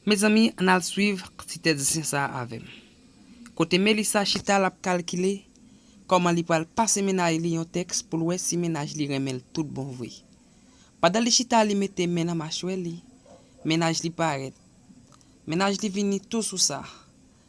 Mezanmi ann al swiv ti tèt zen sa avè m. Kote Melissa chita l ap kalkile kòman li pral pase mennaj li yon tèks pou l wè si mennaj li renmen l tout bon vre. Pandan li chita li mete men nan machwè li, mennaj li parèt. Mennaj li vini tou sou sa.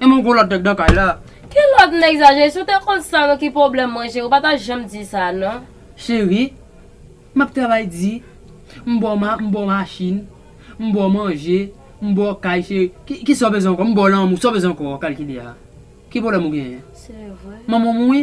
Menm yon gwo lòt nèg nan kay la. Ki lòt nèg sa Jezi? Si w te konn sa non ki pwoblèm mwen Jezi w pa ta janm di sa non. Cheri, m ap travay di, m ba w machin, m ba w manje, m ba w kay cheri, ki sa w bezwen ankò? M ba w lanmou, sa w bezwen ankò? Kalkile a. Ki pwoblèm ou genyen? Se vre. Manman m wi.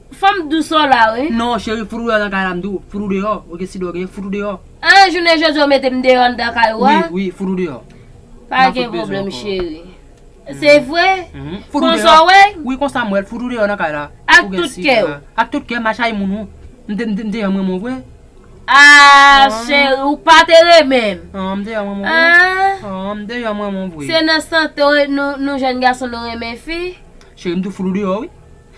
Fanm dous ou la wi. Non cheri fout ou deyò nan kay la m di w fout ou deyò ou gen sidò gen fout ou deyò. An jounen jodi ou mete m deyò anndan kay ou a. Wi wi fout ou deyò. Pa gen pwoblèm cheri. Se vre? Konsa w wè l? Wi konsa m wè l fout ou deyò nan kay la. Ak tout kè w? Ak tout kè m a chay moun ou. M deyò m renmen w vre. Aah cheri ou pa te renmen m. An m deyò m renmen w vre. An. An m deyò m renmen w vre. Se nan sante w nou jèn gason nou renmen fi? Cheri m di w fout ou deyò wi.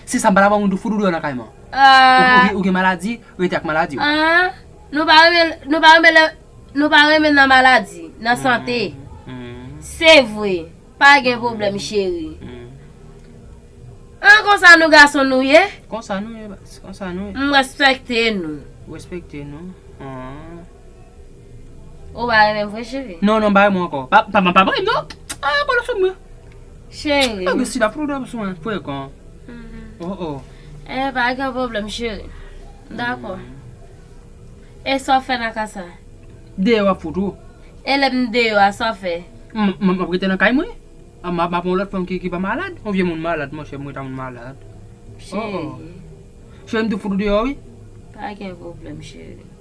Se sa m pala ba moun tou fout ou deyò nan kay man. Ahh. Ou gen maladi, rete ak maladi w. Ahh nou pa renmen nou pa renmen lè nou pa renmen nan maladi, nan sante. Se vre, pa gen pwoblèm cheri. Ahh konsa nou gason nou ye? Konsa nou ye baz, konsa nou ye. M respekte nou. Respekte nou, ahh. Ou pa renmen m vre cheri. Non non pa renmen w ankò. Pa pa pa renmen m non. Aah bolo fè m ri. Cheri m. Ange sila fout ou dòmi sou mwen frekan. Oh oh. Eh pa gen pwoblèm cheri. Dakò. E sa w fè nan ka sa? Deyò a fout ou. E lè m deyò a sa w fè? M ap rete nan kay mwen. M ap ak yon lòt fanm ki pa malad. Yon vye moun malad monchè m rete ak moun malad. Cheri. Cheri m tou fout ou deyò wi. Pa gen pwoblèm cheri.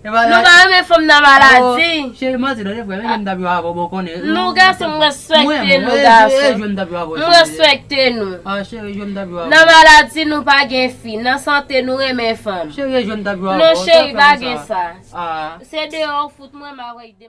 Nou pa renmen fanm nan maladi. Cheri manti nou se frè men jan m tap jwe avèw bon konnen. Nou gason m respekte nou gason. M respekte nou. Nan maladi nou pa gen fi. Nan sante nou renmen fanm. Non cheri pa gen sa. Se deyò ou fout mwen m avèk.